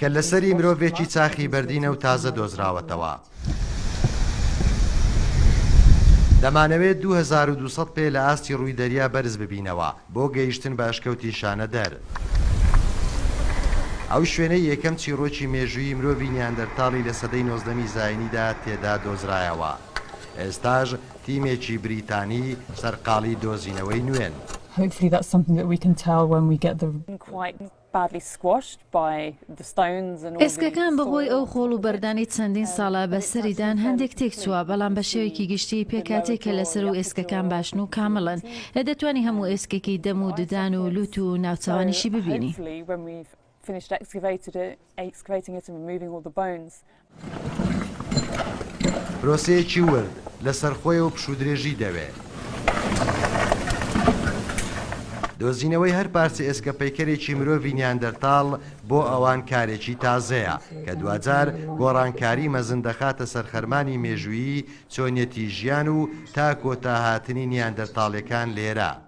کەللەسەری مرۆڤێکی چاخی بەردینە و تازە دۆزراوەتەوە. دەمانەوێت دوو هەزار و دوو سەد پێ لە ئاستی ڕووی دەریا بەرز ببینەوە بۆ گەیشتن بە ئەشکەوتی شانەدەر، ئەو شوێنەی یەکەم چیڕۆکی مێژوویی مرۆڤی نیاندەرتاڵی لە سەدەی نۆزدەمی زایینیدا تێدا دۆزرایەوە. ئێستاش تیمێکی بریتانی سەرقاڵی دۆزینەوەی نوێن. Hopefully that's something that we can tell when we get the. ئێسکەکان بەهۆی ئەو خۆڵ و بەردانەی چەندین ساڵە بەسەریدان هەندێک تێکچووە، بەڵام بە شێوەیەکی گشتی پێکهاتەی کەلەسەر و ئێسکەکان باشن و کامڵن. دەتوانی هەموو ئێسکێکی دەم و ددان و لووت و ناوچەوانیشی ببینی. Finished excavated it, excavating it and removing all the bones. پرۆسەیەکی ورد لەسەر خۆیە و پشوودرێژی دەوێ. دۆزینەوەی هەر پارچە ئێسکە پەیکەرێکی مرۆڤی نیاندەرتاڵ بۆ ئەوان کارێکی تازەیە، کە دواجار گۆڕانکاری مەزن دەخاتە سەر خەرمانی مێژوویی چۆنیەتی ژیان و تا کۆتا هاتنی نیاندەرتاڵیەکان لێرە.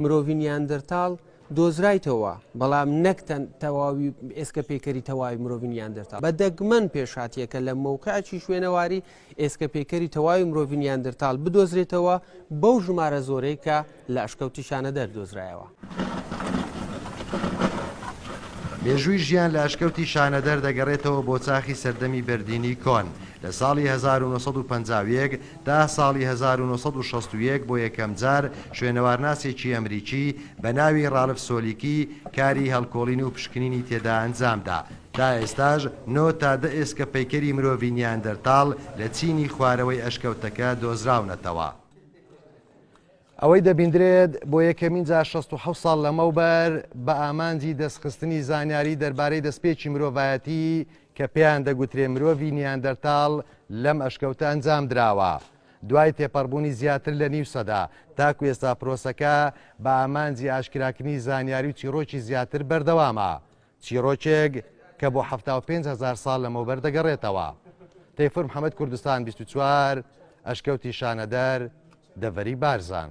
مرۆڤی نیاندرتاڵ دۆزرایتەوە، بەڵام نەک تەواوی ئێسکە پەیکەری تەواوی مرۆڤی نیاندرتاڵ، بە دەگمەن پێشهاتییەکە لە مەوقعێکی شوێنەواری ئێسکە پەیکەری تەواوی مرۆڤی نیاندرتاڵ بدۆزرێتەوە بەو ژمارە زۆرەی کە لە ئەشکەوتی شانەدەر دۆزرایەوە. مێژووی ژیان لە ئەشکەوتی شانەدەر دەگەڕێتەوە بۆ چاخی سەردەمی بەردینی کۆن، لە ساڵی هەزار و نۆ سەد و پەنجا و یەک، تا ساڵی هەزار و نۆ سەد و شەست و یەک بۆ یەکەمجار شوێنەوارناسێکی ئەمریکی بە ناوی ڕالف سۆلیکی کاری هەڵکۆڵین و پشکنینی تێدا ئەنجام دا. تا ئێستاش نۆ تا دە ئێسکە پەیکەری مرۆڤی نیاندەرتاڵ لە چینی خوارەوەی ئەشکەوتەکە دۆزراونەتەوە. ئەوەی دەبیندرێت، بۆ یەکەمین جار شەست و حەوت ساڵ لەمەوبەر بە ئامانجی دەستخستنی زانیاری دەربارەی دەستپێکی مرۆڤایەتی کە پێیان دەگوترێ مرۆڤی نیاندەرتاڵ لەم ئەشکەوتە ئەنجام دراوە دوای تێپەڕبوونی زیاتر لە نیو سەدە، تاکو ئێستا پرۆسەکە بە ئامانجی ئاشکراکردنی زانیاری و چیڕۆکی زیاتر بەردەوامە. چیڕۆکێک کە بۆ حەفتا و پێنج هەزار ساڵ لەمەوبەر دەگەڕێتەوە. تەیفور محەمەد کوردستان بیست و چوار، ئەشکەوتی شانەدەر، دەڤەری بارزان.